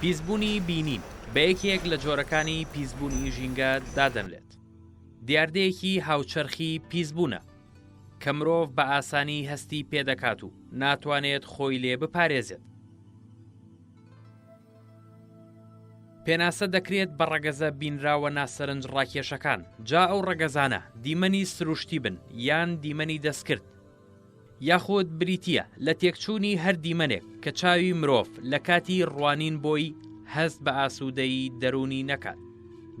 پیسبوونی بینین بە یەکێک لە جۆرەکانی پیسبوونی ژینگە دادەنرێت دیاردەیەکی هاوچەرخی پیسبوونە کە مرۆڤ بە ئاسانی هەستی پێدەکات و ناتوانێت خۆی لێ بپارێزێت پێناسە دەکرێت بە ڕەگەزە بینراوە ناسەرنج ڕاکێشەکان، جا ئەو ڕەگەزانە دیمەنی سروشتی بن یان دیمەنی دەستکرد، یاخود بریتییە لە تێکچوونی هەر دیمەنێک کە چاوی مرۆڤ لە کاتی ڕوانین بۆی هەست بە ئاسوودەیی دەروونی نەکات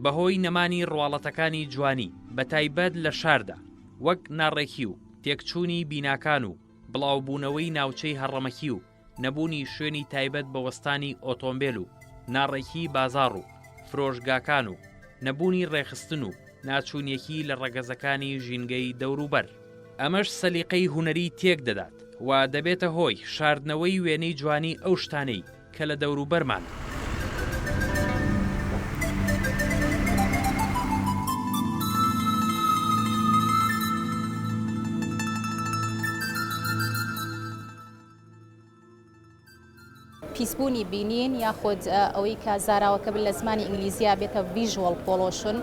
بەهۆی نەمانی ڕواڵەتەکانی جوانی بە تایبەت لە شاردا وەک ناڕێکی و تێکچوونی بیناکان و بڵاوبوونەوەی ناوچەی هەڕەمەکی و نەبوونی شوێنی تایبەت بە وەستانی ئۆتۆمبێل و ناڕێکیی بازاڕ و فرۆشگاکان و نەبوونی ڕێکخستن و ناچوونیەکی لە ڕەگەزەکانی ژینگەی دەوروبەر، ئەمەش سەلیقەی هونەری تێک دەدات و دەبێتە هۆی شاردنەوەی وێنەی جوانی ئەو شتانەی کە لە دەوروبەرمانن. پیسبوونی بینین یاخود ئەوەی کە زاراوەکە بن لە زمانی ئینگلیزیە بێتە ڤیژوەڵ پۆڵۆشن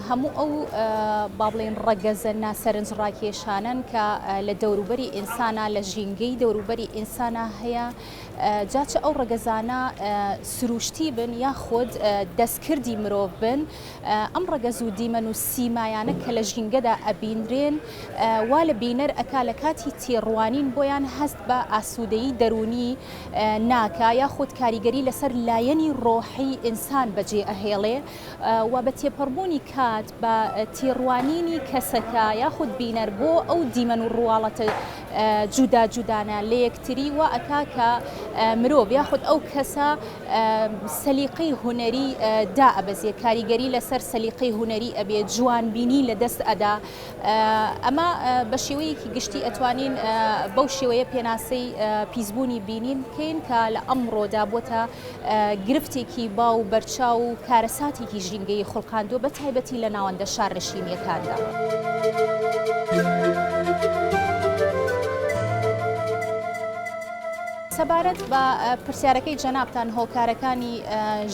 هەموو ئەو با بڵێن ڕەگەزە ناسەرنج ڕاکێشانن کە لە دەوروبەری ئینسانە لە ژینگەی دەوروبەری ئینسانە هەیە جاچە ئەو ڕەگەزانە سروشتی بن یاخود دەستکردی مرۆڤ بن ئەم ڕەگەز و دیمەن و سیمایانە کە لە ژینگەدا ئەبینرێن وا لە بینەر ئەکا لە کاتی تێڕوانین بۆیان هەست بە ئاسوودەیی دەروونی ناکا یاخود کاریگەری لەسەر لایەنی ڕۆحی ئینسان بەجێ ئەهێڵێ و بە تێپەڕبوونی کات بە تێڕوانینی کەسەکە یاخود بینەر بۆ ئەو دیمەن و ڕواڵەتە جودا جودانە لەیەکتری وا ئەکا کە مرۆڤ یاخود ئەو کەسە سەلیقەی هونەری دا ئەبەزێ کاریگەری لەسەر سەلیقەی هونەری ئەبێ جوانبینی لە دەست ئەدا ئەمە بە شێوەیەکی گشتی ئەتوانین بەو شێوەیە پێناسەی پیسبوونی بینین بکەین کە لە ئەمڕۆدا بۆتە گرفتێکی باو و بەرچاو و کارەساتێکی ژینگەیی خوڵقاندووە بە تایبەتی لە ناوەندە شارنشینییەکاندا. سەبارەت بە پرسیارەکەی جەنابتان هۆکارەکانی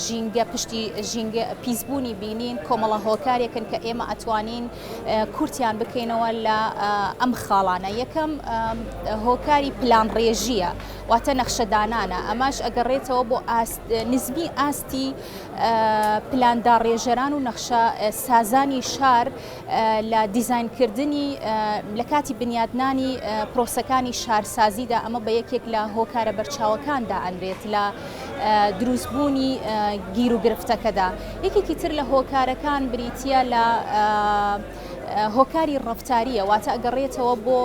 ژینگە پشتی ژینگە پیسبوونی بینین کۆمەڵە هۆکارێکن کە ئێمە ئەتوانین کورتیان بکەینەوە لە ئەم خاڵانە یەکەم هۆکاری پلانڕێژییە واتە نەخشەدانانە، ئەمەش ئەگەڕێتەوە بۆ ئاست نزمی ئاستی پلان داڕێژەران و نەخشە سازانی شار لە دیزاینکردنی لە کاتی بنیاتنانی پرۆسەکانی شارسازیدا ئەمە بە یەکێک لە هۆکارە بەرچاوەکان دائەنرێت لە دروستبوونی گیر و گرفتەکەدا یەکێکی تر لە هۆکارەکان بریتە لە هۆکاری ڕەفتارییە واتە ئەگەڕێتەوە بۆ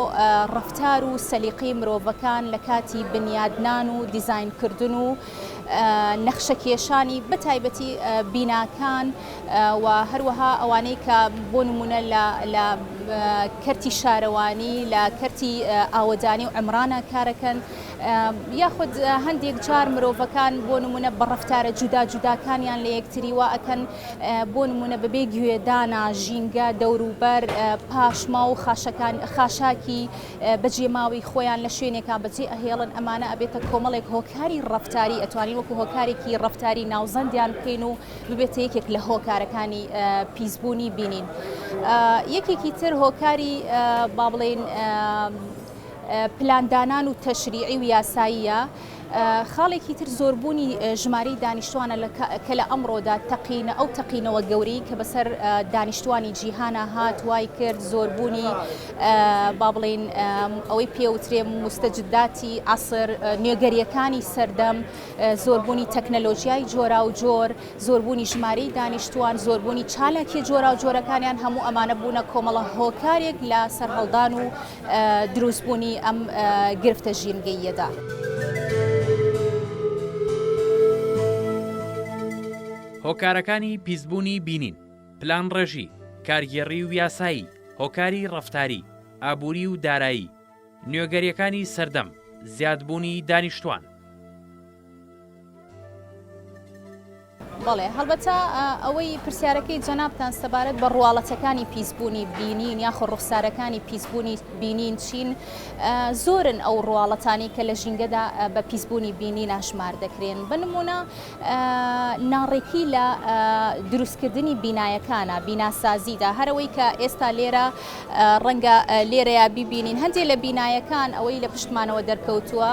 ڕەفتار و سەلیقەی مرۆڤەکان لە کاتی بنیادنان و دیزینکردن و نەخشەکێشانی بە تایبەتی بیناکان و هەروەها ئەوانەی کە بۆ نمونە لە کەرتی شارەوانی لە کەرتی ئاوەدانی و ئەمرانە کارەکەن یاخود هەندێک جار مرۆڤەکان بۆ نمونە بە ڕەفتارە جودا جوداکانیان لە یەکتری وائەکەن بۆ نموونە بەبێ گوێ دانا، ژینگە، دەوروبەر، پاشماو و خاشەکان خاشاکی بە جێ ماوی خۆیان لە شوێنێکا بە جێ ئەهێڵن ئەمانە ئەبێتە کۆمەڵێک هۆکاری ڕەفتاری ئەتوانین وەکو هۆکارێکی ڕەفتاری ناوزەندیان بکەین و ببێتە یەکێک لە هۆکارەکانی پیسبوونی بینین یەکێکی تر هۆکاری با بڵێن پلاندانان و تەشریعی و یاساییە خاڵێکی تر زۆربوونی ژمارەی دانیشتوانە لە کە لە ئەمڕۆدا تەقینە ئەو تەقینەوە گەورەی کە بەسەر دانیشتوانی جیهانە هات وای کرد زۆربوونی با بڵین ئەوەی پێوترێ مستەجدداتی عسر نوێگەریەکانی سەردەم زۆربوونی تەکنەلۆژیای جۆرا و جۆر زۆربوونی ژمارەی دانیشتوان زۆربوونی چالاکی جۆرا و جۆرەکانیان هەموو ئەمانە بوونە کۆمەڵە هۆکارێک لە سەرهەڵدان و دروستبوونی ئەم گرفتە ژینگەییەدا. هۆکارەکانی پیسبوونی بینین، پلانڕێژی، کارگێڕی و یاسایی، هۆکاری ڕەفتاری، ئابووری و دارایی، نوێگەرییەکانی سەردەم، زیادبوونی دانیشتووان. بەڵێ هەڵبەتە ئەوەی پرسیارەکەی جەنابتان سەبارەت بە ڕواڵەتەکانی پیسبوونی بینین یاخۆ ڕوخسارەکانی پیسبوونی بینین چین زۆرن ئەو ڕواڵەتانی کە لە ژینگەدا بە پیسبوونی بینی ناشمار دەکرێن بنمونە ناڕێکی لە دروستکردنی بینایەکانە بیناسازیدا هەرەوەی کە ئێستا لێرە ڕەنگە لێرەیە ببینین هەندێک لە بینایەکان ئەوەی لە پشتمانەوە دەرکەوتووە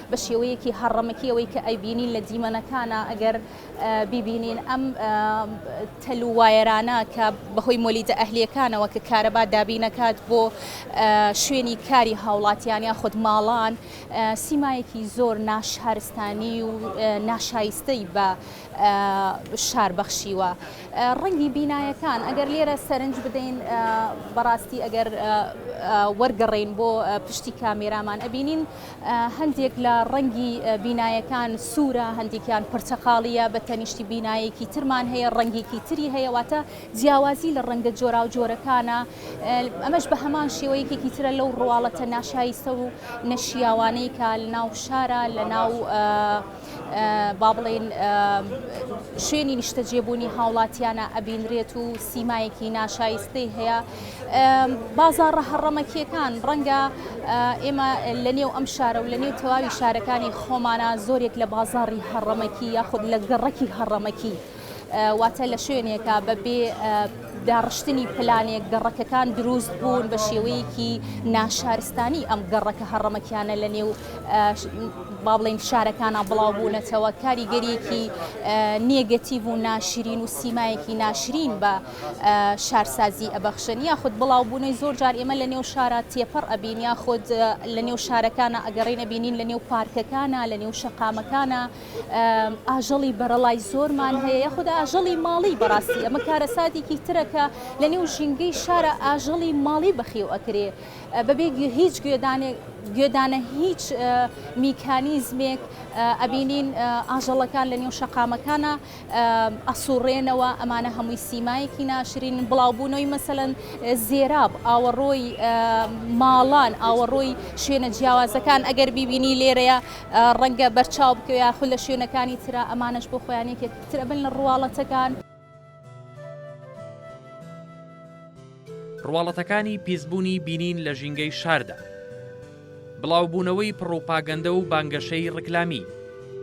بە شێوەیەکی هەڕەمەکی ئەوەی کە ئەیبینین لە دیمەنەکانا ئەگەر بیبینین ئەم تەل و وایەرانە کە بەهۆی مۆلیدە ئەهلیەکانەوە کە کارەبا دابینەکات بۆ شوێنی کاری هاوڵاتیان یا خود ماڵان سیمایەکی زۆر ناشارستانی و ناشایستەی بە شار بەخشیوە ڕەنگی بینایەکان ئەگەر لێرە سەرنج بدەین بەڕاستی ئەگەر وەرگەڕین بۆ پشتی کامێرامان ئەبینین هەندێک لە ڕەنگی بینایەکان سوورە، هەندێکیان پرتەقاڵییە، بە تەنیشتی بینایەکی ترمان هەیە ڕەنگێکی تری هەیە، واتە جیاوازی لە ڕەنگە جۆراوجۆرەکانە، ئەمەش بە هەمان شێوە یەکێکی ترە لەو ڕواڵەتە ناشایستە و نەشیاوانەی کە لەناو شارا لەناو با بڵێین شوێنی نیشتەجێبوونی هاوڵاتیانە ئەبینرێت و سیمایەکی ناشایستەی هەیە بازاڕە هەڕەمەکیەکان ڕەنگە ئێمە لە نێو ئەم شارە و لە نێو تەواوی شارەکانی خۆمانە زۆرێک لە بازاڕی هەڕەمەکی یاخود لە گەڕەکی هەڕەمەکی واتە لە شوێنێکە بە بێ داڕشتنی پلانێک گەڕەکەکان دروست بوون بە شێوەیەکی ناشارستانی ئەم گەڕەکە هەڕەمەکیانە لە نێو با بڵین شارەکانە بڵاو بوونەتەوە کاریگەریەکی نێگەتیڤ و ناشرین و سیمایەکی ناشرین بە شارسازی ئەبەخشن یاخود بڵاو بوونەی زۆر جار ئێمە لە نێو شارە تێپەڕ ئەبین یاخود لە نێو شارەکانە ئەگەڕێنە بینین لە نێو پارکەکانە لە نێو شەقامەکانە ئاژەڵی بەرەڵای زۆرمان هەیە یاخود ئاژەڵی ماڵی بەڕاستی ئەمە کارەساتێکی ترەکە لە نێو ژینگەی شارە ئاژەڵی ماڵی بەخیو ئەکرێ بەبێ هیچ گوێدانێک گوێدانە هیچ میکانیزمێک ئەبینین ئاژەڵەکان لە نێو شەقامەکانە ئەسوڕێنەوە ئەمانە هەمووی سیمایەکی ناشرین بڵاوبوونەوەی مەسەلەن زێراب ئاوەڕۆی ماڵان ئاوەڕۆی شوێنە جیاوازەکان ئەگەر بیبینی لێرەیە ڕەنگە بەرچاو بکە یاخود لە شوێنەکانی تررا ئەمانەش بۆ خۆیانێکێک ترەبن لە ڕواڵەتەکان. ڕواڵەتەکانی پیسبوونی بینین لە ژینگەی شاردا. بڵاوبوونەوەی پڕوپاگەندە و بانگەشەی ڕیکلامی،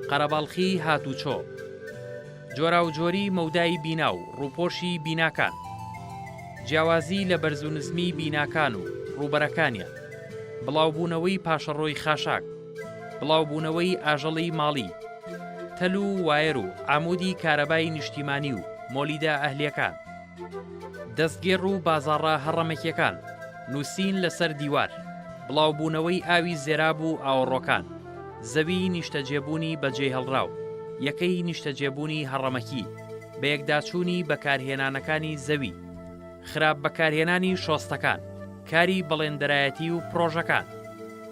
قەرەباڵخی هاتوچۆ. جۆراوجۆری مەودای بینا و ڕووپۆشی بیناکان. جیاوازی لە بەرز و نزمی بیناکان و ڕووبەرەکانیان. بڵاوبوونەوەی پاشەڕۆی خاشاک. بڵاوبوونەوەی ئاژەڵی ماڵی. تەل و وایەر و عامودی کارەبای نیشتیمانی و مۆلیدە ئەهلیەکان. دەستگێڕ و بازاڕە هەڕەمەکیەکان، نووسین لەسەر دیوار، بڵاوبوونەوەی ئاوی زێراب و ئاوەڕۆکان، زەویی نیشتەجێبوونی بەجێهێڵراو، یەکەی نیشتەجێبوونی هەڕەمەکی، بەیەکداچوونی بەکارهێنانەکانی زەوی، خراپ بەکارهێنانی شۆستەکان، کاری بەڵێندەرایەتی و پڕۆژەکان.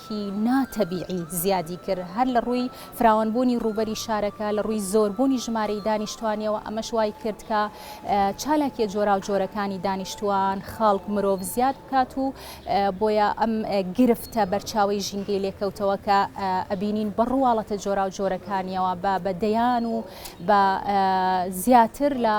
شێوەیەکی نا تەبیعی زیادی کرد هەر لە ڕووی فراوان بوونی ڕووبەری شارەکە لە ڕووی زۆر بوونی ژمارەی دانیشتوانیەوە ئەمەش وای کرد کە چالاکیە جۆراو جۆرەکانی دانیشتوان خەڵک مرۆڤ زیاد بکات و بۆیە ئەم گرفتە بەرچاوی ژینگەی لێکەوتەوە کە ئەبینین بە ڕواڵەتە جۆراو جۆرەکانیەوە بە بە دەیان و بە زیاتر لە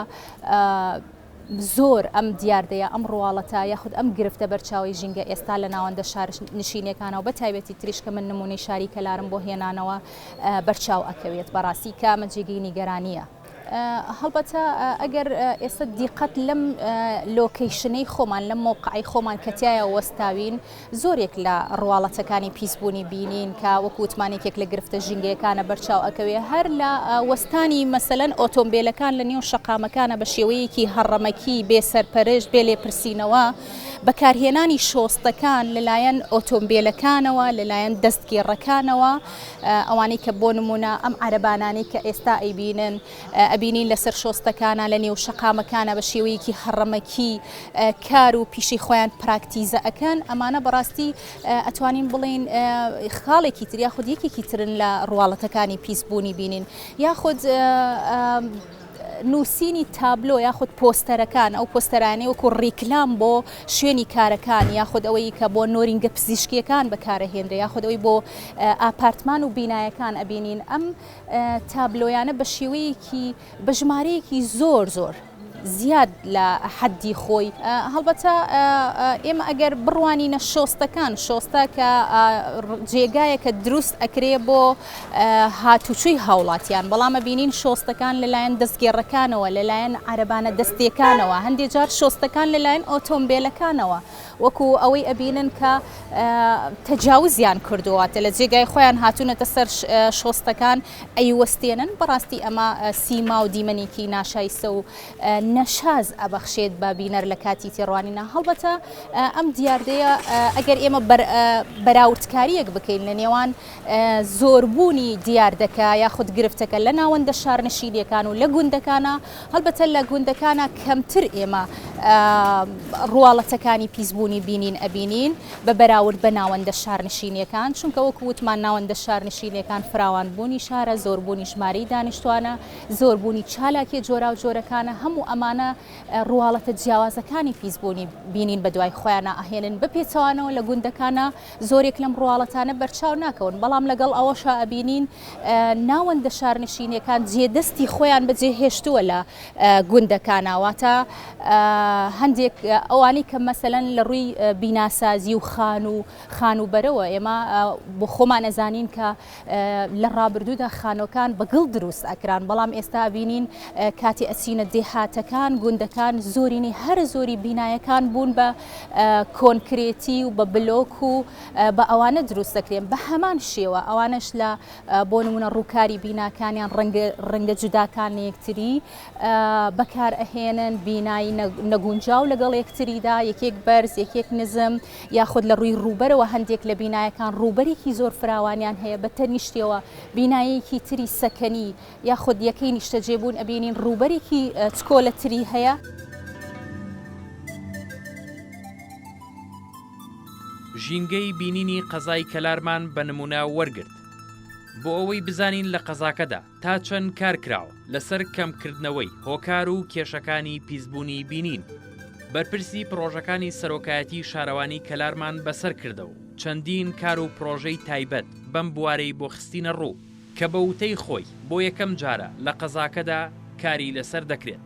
زۆر ئەم دیاردەیە، ئەم ڕواڵەتە یاخود ئەم گرفتە بەرچاوەی ژینگە ئێستا لە ناوەندە شارنشینیەکانا و بەتایبەتی تریش کە من نمونەی شاری کەلارم بۆ هێنانەوە بەرچاو ئەکەوێت بەڕاستی کە ئەمە جێگەی نیگەرانیە. هەڵبەتە ئەگەر ئێستا دیقەت لەم لۆکەیشنەی خۆمان لەم مەوقەی خۆمان کە تیایا وەستاوین، زۆرێک لە ڕواڵەتەکانی پیسبوونی بینین کە وەکو وتمان یەکێک لە گرفتە ژینگەیەکانە بەرچاو ئەکەوێ هەر لە وەستانی مەسەلەن ئۆتۆمبێلەکان لە نێو شەقامەکانە بە شێوەیەکی هەڕەمەکی بێ سەرپەرشت بێ لێپرسینەوە بەکارهێنانی شۆستەکان لەلایەن ئۆتۆمبێلەکانەوە لەلایەن دەستگێڕەکانەوە ئەوانەی کە بۆ نمونە ئەم عەرەبانانەی کە ئێستا ئەیبینن ئەبینین لەسەر شۆستەکانە لە نێو شەقامەکانە بە شێوەیەکی هەڕەمەکی کار و پیشەی خۆیان پراکتیزە ئەەکەن ئەمانە بەڕاستی ئەتوانین بڵین خاڵێکی تر یاخود یەکێکی ترن لە ڕواڵەتەکانی پیسبوونی بینین یاخود نووسینی تابلۆ یاخود پۆستەرەکان ئەو پۆستەرانی وەکو ڕیکلام بۆ شوێنی کارەکان یاخود ئەوەی کە بۆ نۆرینگە پزیشکیەکان بەکارەهێنرێ یاخود ئەوی بۆ ئاپارتمان و بینایەکان ئەبینین ئەم تابلۆیانە بە شێوەیەکی بە ژمارەیەکی زۆر زۆر زیاد لە حەدی خۆی هەڵبەتە ئێمە ئەگەر بڕوانینە شۆستەکان شۆستە کە جێگایەکە دروست ئەکرێ بۆ هاتوچوی هاوڵاتیان بەڵامە بینین شۆستەکان لەلایەن دەستگێڕەکانەوە لەلایەن عربانە دەستیەکانەوە هەندێک جار شۆستەکان لەلایەن ئۆتۆمبیلەکانەوە وەکو ئەوەی ئەبینن کە تەجاوزیان کردووە واتە لە جێگای خۆیان هاتوونەتە سەر شۆستەکان ئەیوەستێنن بەڕاستی ئەمە سیما و دیمەنێکی ناشایستە و نەشاز ئەبەخشێت بە بینەر لە کاتی تێڕوانینە هەڵبەتە ئەم دیاردەیە ئەگەر ئێمە بەراوردکاریەک بکەین لە نێوان زۆربوونی دیاردەکە یاخود گرفتەکە لە ناوەندە شارنشینیەکان و لە گوندەکانە هەڵبەتە لە گوندەکانا کەمتر ئێمە ڕواڵەتەکانی پیسبوونی بینین ئەبینین بە بەراورد بە ناوەندە شارنشینیەکان چونکە وەکو وتمان ناوەندە شارنشینیەکان فراوان بوونی شارە زۆربوونی ژماری دانیشتوانە زۆربوونی چالاکی جۆراو جۆرەکانە هەموو ئەمانە ڕواڵەتە جیاوازەکانی پیسبوونی بینین بە دوای خۆیانە ئەهێنن بە پێچەوانەوە لە گوندەکانە زۆرێک لەم ڕواڵەتانە بەرچاو ناکەون بەڵام لەگەڵ ئەوەشە ئەبینین ناوەندە شارنشینیەکان جێ دەستی خۆیان بەجێ هێشتووە لە گوندەکانا واتە هەندێک ئەوانەی کە مەسەەن لە ڕووی بیناسازی و خان و خان و بەرەوە ئێمە بۆ خۆمان ئەزانین کە لە ڕابردوودا خانۆکان بەگڵ دروست ئەکران بەڵام ئێستا بینین کاتی ئەچینە دێهاتەکان گوندەکان زۆرینی هەرە زۆری بینایەکان بوون بە کۆنکرێتی و بە بلۆک و بە ئەوانە دروست دەکرێن بە هەمان شێوە ئەوانش لە بۆ نمونە ڕووکاری بیناکانیان ڕەنگە جوداکان لە یەکتری بەکار ئەهێنن بینایی نەگونجاو لەگەڵ یەکتریدا یەکێک بەرز یەکێک نزم یاخود لە ڕووی ڕووبەرەوە هەندێک لە بینایەکان ڕووبەرێکی زۆر فراوانیان هەیە بە تەنیشتەوە بینایەکی تری سەکەنی یاخود یەکەی نیشتەجێبوون ئەبینین ڕووبەرێکی چکۆلەتری هەیە. ژینگەی بینینی قەزای کەلارمان بە نمونە وەرگرت بۆ ئەوەی بزانین لە قەزاکەدا تا چەند کار کراوە لەسەر کەمکردنەوەی هۆکار و کێشەکانی پیسبوونی بینین بەرپرسی پرۆژەکانی سەرۆکایەتی شارەوانی کەلارمان بەسەر کردەوە چەندین کار و پرۆژەی تایبەت بەم بوارەی بۆ خستینە ڕوو کە بە وتەی خۆی بۆ یەکەم جارە لە قەزاکەدا کاری لەسەر دەکرێت.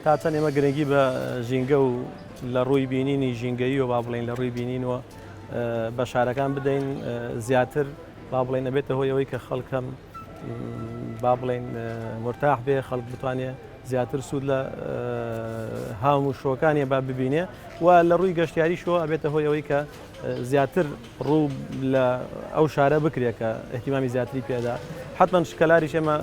تا چەند ئێمە گرنگی بە ژینگە و لە ڕووی بینینی ژینگەییەوە با بڵین لە ڕووی بینینەوە بە شارەکان بدەین زیاتر با بڵێن ئەبێتە هۆی ئەوەی کە خەڵکەم با بڵێن مرتاح بێ خەڵک بتوانێت زیاتر سوود لە هاموشۆکانێ با ببینێ و لە ڕووی گەشتیاریشەوە ئەبێتە هۆی ئەوەی کە زیاتر ڕوو لە ئەو شارە بکرێت کە احتیمامی زیاتری پێدا حتمما شکەلاریش ئێمە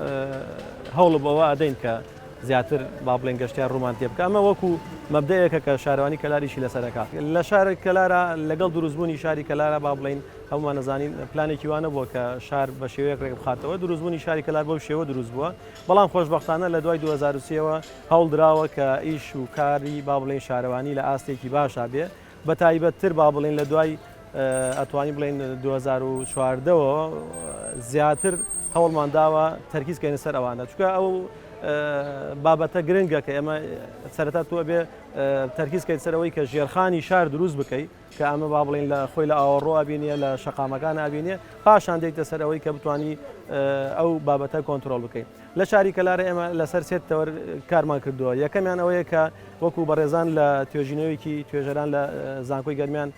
هەوڵ بەوە ئەدەین کە زیاتر با بڵێن گەشتیار ڕوومان تێ بکەمە وەکو مەبدەیەکە کە شارەوانی کەلاریشی لەسەرەکە لە شارێک کەلارە لەگەڵ دروستبوونی شاری کەلارە با بڵین هەمووان نەزانین پلانێکی وانە بووە کە شار بە شێوەیەک ڕێک بخاتەوە دروستبوونی شاری کەلار بۆ شێوە دروست بووە بەڵام خۆشبەختانە لە دوای دوو هەزار و سێ وە هەوڵ دراوە کە ئیش و کاری با بڵێین شارەوانی لە ئاستێکی باشا بێ بە تایبەت تر با بڵێین لە دوای ئەتوانی بڵێن دوو هەزار و چواردە وە زیاتر هەوڵمان داوە تەرکیز کەینە سەر ئەوانە چکە ئەو بابەتە گرنگە کە ئێمە سەرەتا تو ئەبێ تەرکیز کەیت سەرەوەی کە ژێرخانی شار دروست بکەیت کە ئەمە با بڵێین لە خۆی لە ئاوەڕۆ ئەبینێ لە شەقامەکان ئەبینێ پاشان دێیتە سەر ئەوەی کە بتانی ئەو بابەتە کۆنتترۆل بکەین لە شاری کەلارە ئێمە لەسەر سێت تەوەر کارمان کردووە یەکەمیان ئەوەیە کە وەکو بەڕێزان لە توێژینەوەیەکی توێژەران لە زانکۆی گەرمیان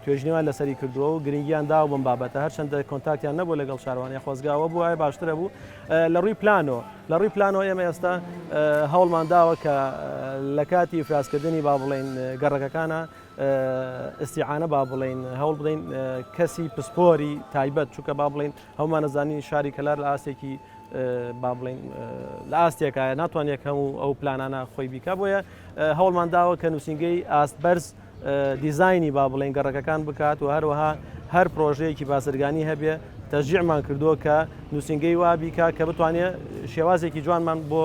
توێژنیوان لەسەری کردووە و گرنگیان دا بم بابەتە هەرچەندە کۆنتاکتیان نەبوو لەگەڵ شاروانە خۆزگاوە بوو ئای باشترە بوو لە ڕووی پلانۆ لە ڕووی پلانۆ ئێمە ئێستا هەوڵمان داوە کە لە کاتی ئفرازکردنی با بڵین گەڕەکەکانە ئیستیعانە با بڵێین هەوڵ بدەین کەسی پسپۆری تایبەت چونکە با بڵێین هەموومان دەزانین شاری کەلار لە ئاستێکی با بڵێین لە ئاستێکایە ناتوان یەک هەموو ئەو پلانانە خۆی بیکە بۆیە هەوڵمان داوە کە نووسنگەی ئاست بەرز دیزایانی با بڵێن گەڕەکەکان بکات و هەروەها هەر پرۆژەیەکی بازرگانی هەبێ تەژیعمان کردووە کە نووسنگەی وابیکە کە بتوانێت شێوازێکی جوانمان بۆ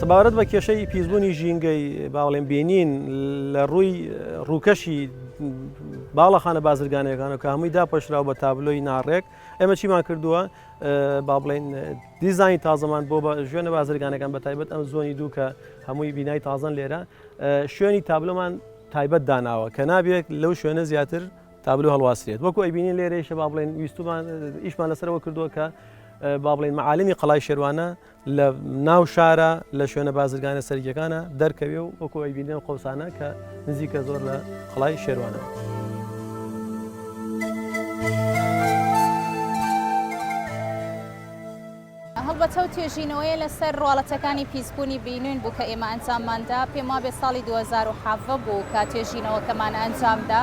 سەبارەت بە کێشەی پیسبوونی ژینگەی باڵێن بینین لە ڕووی ڕووکەشی باڵەخانە بازرگانەکان و کە هەمووی داپۆشراو بە تابلۆی ناڕێک ئێمە چیمان کردووە با بڵێن دیزانی تازەمان بۆ بە ژێنە بازرگانەکان بە تایبەت ئەم زۆنی دوو کە هەمووی بینای تازان لێرە شوێنی تابلۆمان تایبەت داناوە کە نابێت لەو شوێنە زیاتر تابلۆ هەڵواسرێت وەکو ئەیبینین لێرەیشە با بڵێن ویستومان ئیشمان لەسەر ئەوە کردووە کە با بڵێن معالمی قەڵای شێوانە لە ناو شارە لە شوێنە بازرگانە سەرگیەکانە دەرکەوێ و وەکو ئەیبینیان قوسانە کە نزیکە زۆر لە قەڵای شێوانە. هەڵبەتە ئەو توێژینەوەیە لەسەر ڕواڵەتەکانی پیسبوونی بینین بوو کە ئێمە ئەنجاممان دا، پێم وابێ ساڵی دوو هەزار و حەڤدە بوو کە توێژینەوەکەمان ئەنجام دا.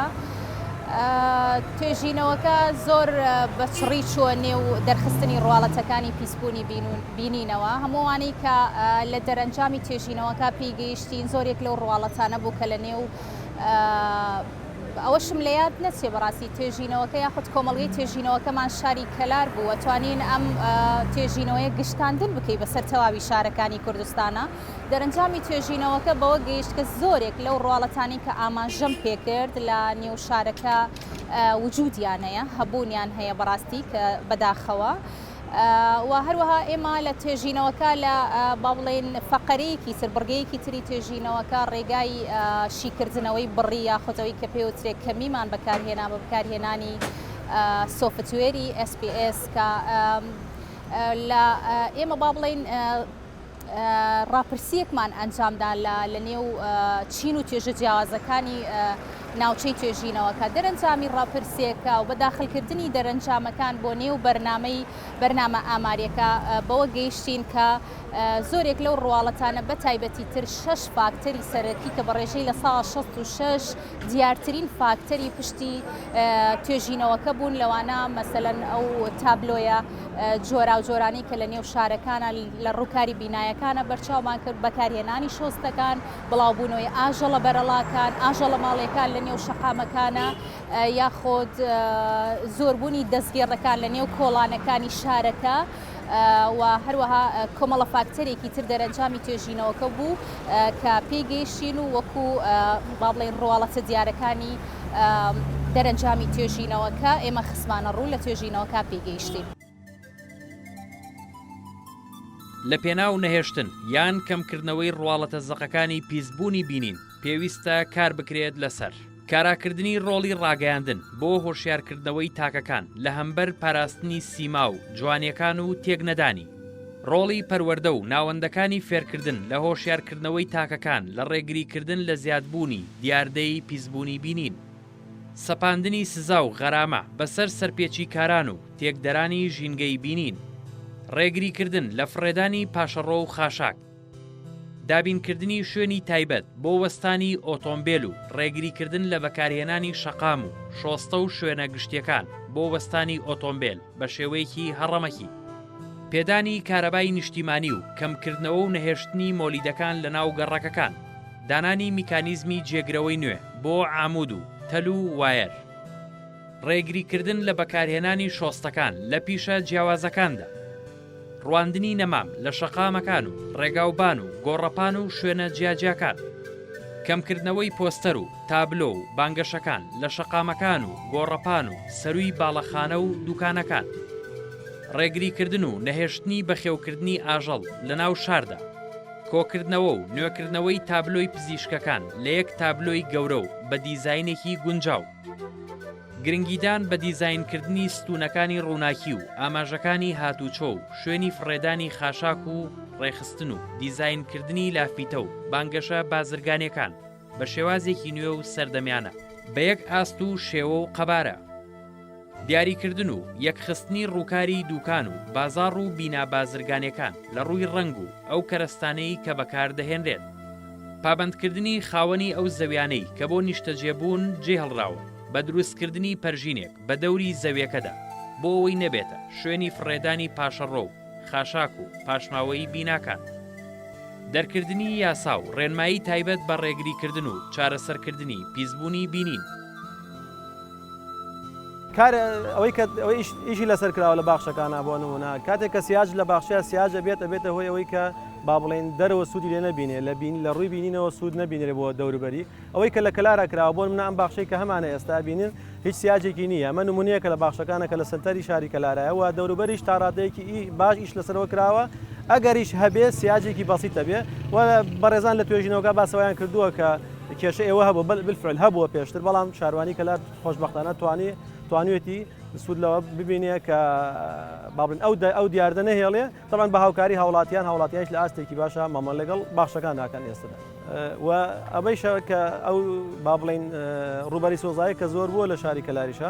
توێژینەوەکە زۆر بە چڕی چووە نێو دەرخستنی ڕواڵەتەکانی پیسبوونی بینینەوە. هەموو ئەوانەی کە لە دەرەنجامی توێژینەوەکە پێی گەیشتین زۆرێک لەو ڕواڵەتانە بوو کە لە نێو ئەوەشم لە یاد نەچێ بەڕاستی توێژینەوەکە یاخود کۆمەڵگەی توێژینەوەکەمان شاری کەلار بوو و توانین ئەم توێژینەوەیە گشتاندن بکەی بەسەر تەواوی شارەکانی کوردستانە دەرەنجامی توێژینەوەکە بەوە گەیشت کە زۆرێک لەو ڕواڵەتانی کە ئاماژەم پێکرد لە نێو شارەکە وجودیانەیە هەبوونیان هەیە بەڕاستی کە بەداخەوە و هەروەها ئێمە لە توێژینەوەکە لە با بڵێین فەقەرەیەکی تر بڕگەیەکی تری توێژینەوەکە ڕێگای شیکردنەوەی بڕی یاخودەوەی کە پێوترێک کەمیمان بەکارهێنا بە بەکارهێنانی سۆفتوێری SPAS کە لە ئێمە با بڵێین ڕاپرسییەکمان ئەنجامدا لە نێو چین و توێژە جیاوازەکانی ناوچەی توێژینەوەکە دەرەنجامی ڕاپرسێکە و بە داخلکردنی دەرەنجامەکان بۆ نێو بەرنمەی بەرنامە ئاماریەکە بەوە گەیشتین کە زۆرێک لەو ڕواڵەتانە بە تایبەتی تر شش فاکتەری سەرەکی کە بە ڕێژەی لە سا 16 دیارترین فاکتەری پشتی توێژینەوەکە بوون، لەوانە مەسەلەن ئەو تابلۆیە جۆراوجۆرانەی کە لە نێو شارەکانە لە ڕووکاری بینایەکانە بەرچاومان کرد، بەکارهێنانی شۆستەکان، بڵاوبوونەوەی ئاژەڵە بەرەڵاکان، ئاژەڵە ماڵییەکان لە نێو شەقامەکانە یاخود زۆربوونی دەستگێڕەکان لە نێو کۆڵانەکانی شارەکە. و هەروەها کۆمەڵە فاکتەرێکی تر دەرەنجامی توێژینەوەکە بوو کە پێی گەیشتین و وەکو با بڵێین ڕواڵەتە دیارەکانی دەرەنجامی توێژینەوەکە ئێمە خسمانە ڕوو لە توێژینەوەکە پێی گەیشتین. لە پێناو نەهێشتن یان کەمکردنەوەی ڕواڵەتە زەقەکانی پیسبوونی بینین پێویستە کار بکرێت لەسەر. کاراکردنی ڕۆڵی ڕاگەیاندن بۆ هۆشیارکردنەوەی تاکەکان لە هەمبەر پاراستنی سیما و جوانیەکان و تێکنەدانی. ڕۆڵی پەروەردە و ناوەندەکانی فێرکردن لە هۆشیارکردنەوەی تاکەکان لە ڕێگریکردن لە زیادبوونی دیاردەی پیسبوونی بینین. سەپاندنی سزا و غەرامە بەسەر سەرپێچیکاران و تێکدەرانی ژینگەی بینین. ڕێگریکردن لە فڕێدانی پاشەڕۆ و خاشاک. دابینکردنی شوێنی تایبەت بۆ وەستانی ئۆتۆمبێل و ڕێگریکردن لە بەکارهێنانی شەقام و شۆستە و شوێنە گشتیەکان بۆ وەستانی ئۆتۆمبێل بە شێوەیەکی هەڕەمەکی. پێدانی کارەبای نیشتیمانی و کەمکردنەوە و نەهێشتنی مۆلیدەکان لە ناو گەڕەکەکان. دانانی میکانیزمی جێگرەوەی نوێ بۆ عامود و تەل و وایەر. ڕێگریکردن لە بەکارهێنانی شۆستەکان لە پیشە جیاوازەکاندا. ڕواندنی نەمام لە شەقامەکان و ڕێگاوبان و گۆڕەپان و شوێنە جیاجیاکان. کەمکردنەوەی پۆستەر و تابلۆ و بانگەشەکان لە شەقامەکان و گۆڕەپان و سەرووی باڵەخانە و دووکانەکان. ڕێگریکردن و نەهێشتنی بەخێوکردنی ئاژەڵ لە ناو شاردا. کۆکردنەوە و نوێکردنەوەی تابلۆی پزیشکەکان لە یەک تابلۆی گەورە و بە دیزاینێکی گونجاو. گرنگیدان بە دیزاینکردنی ستوونەکانی ڕووناکی و ئاماژەکانی هاتووچۆ و شوێنی فڕێدانی خاشاک و ڕێکخستن و دیزاینکردنی لافیتە و بانگەشە بازرگانییەکان بە شێوازێکی نوێ و سەردەمیانە بە یەک ئاست و شێوە و قەبارە دیاریکردن و یەکخستنی ڕووکاری دووکان و بازاڕ و بینا بازرگانییەکان لە ڕووی ڕەنگ و ئەو کەرەستانەی کە بەکاردەهێنرێت پابەندکردنی خاوەنی ئەو زەویانەی کە بۆ نیشتەجێبوون جێهڵراون بە دروستکردنی پەرژینێک بە دەوری زەویەکەدا بۆ ئەوەی نەبێتە شوێنی فڕێدانی پاشەڕۆ و خاشاک و پاشماوەیی بیناکان. دەرکردنی یاسا و ڕێنمایی تایبەت بە ڕێگریکردن و چارەسەرکردنی پیسبوونی بینین. کار ئەوەی کە ئەوەیش ئیشی لەسەر کراوە لە باخشەکانە بۆ نمونە کاتێک کە سیاج لە باخشەیە سیاج ئەبێت ئەبێتە هۆی ئەوەی کە با بڵێن دەرەوە سوودی لێ نەبینێ لە بین لە ڕووی بینینەوە سوود نەبینێ بۆ دەوروبەری ئەوەی کە لە کەلارا کراوە بۆ منە ئەم باخشەی کە هەمانە ئێستا بینن هیچ سیاجێکی نییە ئەمە نمونەیەکە لە باخشەکانە کە لە سەنتەری شاری کەلارایە و دەوروبەریش تا ڕادەیەکی ئی باش ئیش لەسەرەوە کراوە ئەگەریش هەبێ سیاجێکی بەسیتە بێ و بەڕێزان لە توێژینەوەگە باسەوەیان کردووە کە کێشە ئێوە هەبوو بەل بالفعل هەبووە پێشتر بەڵام شاروانی کەلار خۆشبەختانە توانی توانیوێتی سوود لەوە ببینێ کە بابن ئەو ئەو دیاردە نەهێڵێ تەمان بە هاوکاری هاوڵاتیان هاوڵاتیانش لە ئاستێکی باشە مامە لەگەڵ باشەکان ناکەن ئێستدا و ئەمەیشە کە ئەو با بڵین ڕوبەری سۆزایە کە زۆر بووە لە شاری کەلاریشە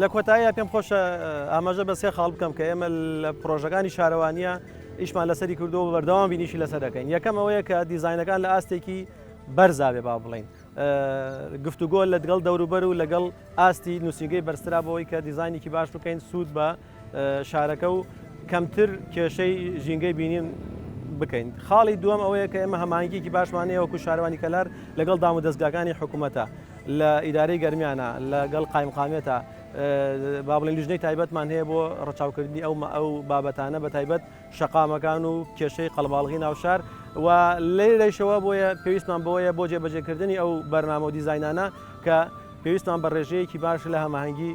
لە کۆتاییا پێم خۆشە ئاماژە بە سێ خاڵ بکەم کە ئێمە لە پرۆژەکانی شارەوانیە ئیشمان لەسەری کردو بە بەردەوام بینیشی لەسەر دەکەین یەکەم ئەوەیە کە دیزینەکان لە ئاستێکی بەرزاوێ با بڵین گفتوگۆ لە دگەڵ دەوروبەر و لەگەڵ ئاستی نووسنگەی بەرسرا بۆەوەی کە دیزانێکی باش بکەین سوود بە شارەکە و کەمتر کێشەی ژینگەی بینیم بکەین خاڵی دووەم ئەوەیە کە ئێمە هەمانگیکی باشمانەیە وەکو شارەوانی کەلار لەگەڵ دام و دەستگاکانی حکوومەتە لە ئیدارەی گەرمیانە لەگەڵ قایمقامێتە با بڵێن لیژنەی تایبەتمان هەیە بۆ ڕچاوکردنی ئەو ئەو بابەتانە بە تایبەت شەقامەکان و کێشەی قەڵباڵغی ناوشار و لێرەشەوە بۆیە پێویستمان بۆیە بۆ جێبەجێکردنی ئەو بەرنامە و دیزینانە کە پێویستمان بە ڕێژەیەکی باش لە هەماهەنگی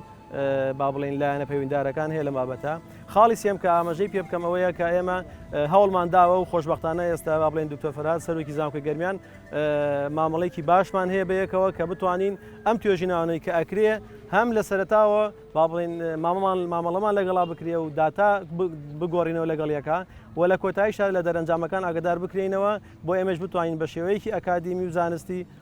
با بڵێین لایەنە پەیوەندارەکان هەیە لەم بابەتە خاڵی سێم کە ئاماژەی پێ بکەم ئەوەیە کە ئێمە هەوڵمان داوە و خۆشببختانە ئێستا با بڵێن دکتۆر فرات سەرۆکی زانکۆی گەرمیان مامەڵێکی باشمان هەیە بەیەکەوە کە بتوانین ئەم توێژینانەی کە ئەکرێ هەم لە سەرتاوە با بڵێن مامەڵمان مامەڵەمان لەگەڵا بکرێ و داتا بگۆڕینەوە لەگەڵیەکە و لە کۆتایی شار لە دەرەنجامەکان ئاگدار بکرینەوە بۆ ئێمەش بتوانین بە شێوەیەکی ئەکادیمی و زانستی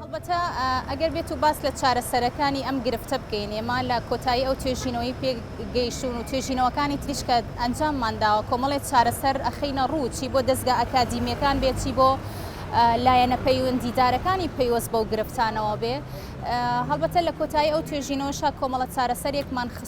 هەڵبەتە ئەگەر بێت و باس لە چارەسەرەکانی ئەم گرفتە بکەین ئێمە لە کۆتایی ئەو توێژینەوەی پێ گەیشتون و توێژینەوەکانی تریشکە ئەنجاممان داوە کۆمەڵێ چارەسەر ئەخینە ڕوو چی بۆ دەستگا ئەکادیمیەکان بێتی بۆ لایەنە پەیوەندیدارەکانی پەیوەست بەو گرفتانەوە بێ هەڵبەتە لە کۆتایی ئەو توێژینەوەشا کۆمەڵە چارەسەرێکمان خست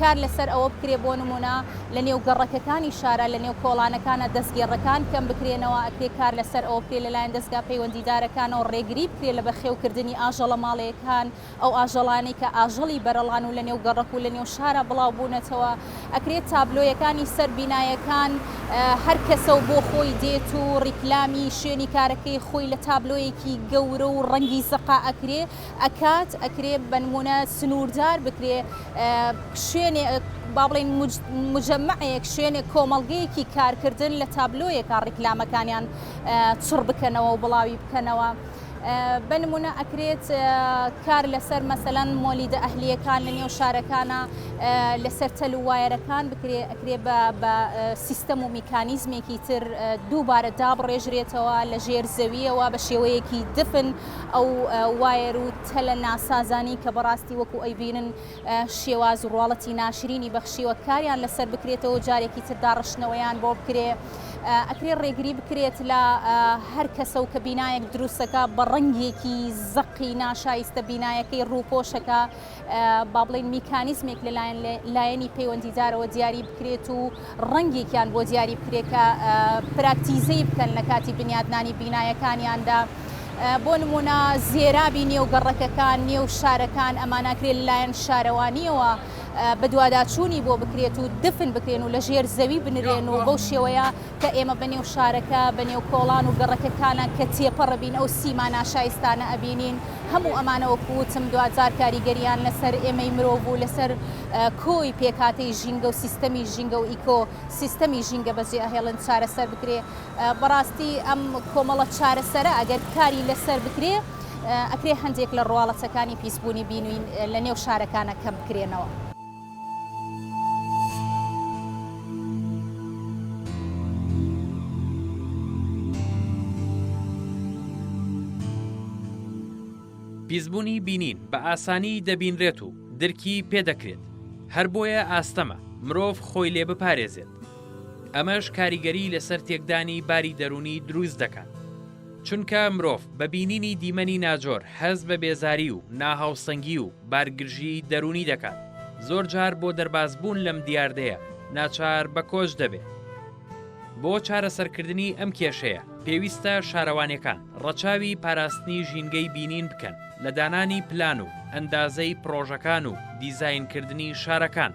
کار لەسەر ئەوە بکرێ بۆ نموونە لە نێو گەڕەکەکانی شارا لە نێو کۆڵانەکانا دەستگێڕەکان کەم بکرێنەوە، ئەکرێ کار لەسەر ئەوە بکرێ لەلایەن دەزگا پەیوەندیدارەکانەوە ڕێگری بکرێ لە بەخێوکردنی ئاژەڵە ماڵێیەکان، ئەو ئاژەڵانەی کە ئاژەڵی بەرەڵان و لە نێو گەڕەک و لە نێو شارا بڵاو بوونەتەوە، ئەکرێ تابلۆیەکانی سەر بینایەکان هەر کەسە و بۆ خۆی دێت و ڕیکلامی شوێنی کارەکەی خۆی لە تابلۆیەکی گەورە و ڕەنگی زەقا ئەکرێ، ئەکات ئەکرێ بەنمونە سنووردار بکرێ شوێنێ با بڵین مجممەەیەک شوێنێک کۆمەڵگەیەکی کارکردن لە تابلۆیەکە ڕیکلامەکانیان چڕ بکەنەوە و بڵاوی بکەنەوە. بنمونە ئەکرێت کار لەسەر مەسەلەن مۆلیدە ئەهلیەکان لە نێو شارەکانە لەسەر تەل و وایەرەکان بکرێ ئەکرێ بە سیستەم و میکانیزمێکی تر دووبارە دابڕێژرێتەوە لە ژێر زەویەوە بە شێوەیەکی دفن ئەو وایەر و تەلە ناسازانەی کە بەڕاستی وەکو ئەیبینن شێواز و ڕواڵەتی ناشرینی بەخشیوە کاریان لەسەر بکرێتەوە جارێکی تر داڕشتنەوەیان بۆ بکرێ ئەکرێ ڕێگری بکرێت لە هەر کەسە و کە بینایەک دروستەکە بە ڕەنگێکی زەقی ناشایستە بینایەکەی ڕووپۆشەکە با بڵێین میکانیزمێک لەلایەن لایەنی پەیوەندیدارەوە دیاری بکرێت و ڕەنگێکیان بۆ دیاری بکرێت کە پراکتیزەی بکەن لە کاتی بنیادنانی بینایەکانیاندا. بۆ نمونە زێرابی نێو گەڕەکەکان نێو شارەکان ئەماناکرێت لەلایەن شارەوانیەوە بەدواداچوونی بۆ بکرێت و دفن بکرێن و لە ژێر زەوی بنرێن و بەو شێوەیە کە ئێمە بە نێو شارەکە بە نێو کۆڵان و گەڕەکەکانە کە تێپەڕبین ئەو سیما ناشایستانە ئەبینین هەموو ئەمانە وەکو وتم دواجار کاریگەریان لەسەر ئێمەی مرۆڤ و لەسەر کۆی پێکهاتەی ژینگە و سیستەمی ژینگە و ئیکۆ سیستەمی ژینگە بەجێ ئەهێڵن چارەسەر بکرێ بەڕاستی ئەم کۆمەڵە چارەسەرە ئەگەر کاری لەسەر بکرێ ئەکرێ هەندێک لە ڕواڵەتەکانی پیسبوونی بینوین لە نێو شارەکانە کەم بکرێنەوە. پیسبوونی بینین بە ئاسانی دەبینرێت و درکی پێدەکرێت هەر بۆیە ئاستەمە مرۆڤ خۆی لێ بپارێزێت ئەمەش کاریگەری لەسەر تێکدانی باری دەرونی دروست دەکات چونکە مرۆڤ بە بینینی دیمەنی ناجۆر هەست بە بێزاری و ناهاوسەنگی و بارگرژیی دەروونی دەکات، زۆرجار بۆ دەربازبوون لەم دیاردەیە ناچار بە کۆچ دەبێت. بۆ چارەسەرکردنی ئەم کێشەیە، پێویستە شارەوانیەکان ڕەچاوی پاراستنی ژینگەی بینین بکەن لە دانانی پلان و ئەندازەی پڕۆژەکان و دیزاینکردنی شارەکان،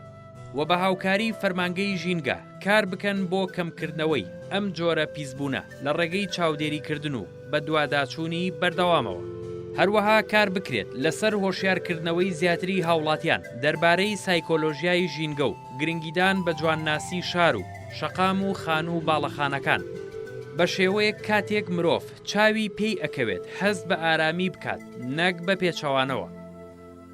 و بە هاوکاری فەرمانگەی ژینگە کار بکەن بۆ کەمکردنەوەی ئەم جۆرە پیسبوونە لە ڕێگەی چاودێریکردن و بەدواداچوونی بەردەوامەوە. هەروەها کار بکرێت لەسەر هۆشیارکردنەوەی زیاتری هاوڵاتیان دەربارەی سایکۆلۆژیای ژینگە و گرنگیدان بە جوانناسی شار و شەقام و خانوو و باڵەخانەکان بە شێوەیەک کاتێک مرۆڤ چاوی پێی ئەکەوێت هەست بە ئارامی بکات نەک بە پێچەوانەوە.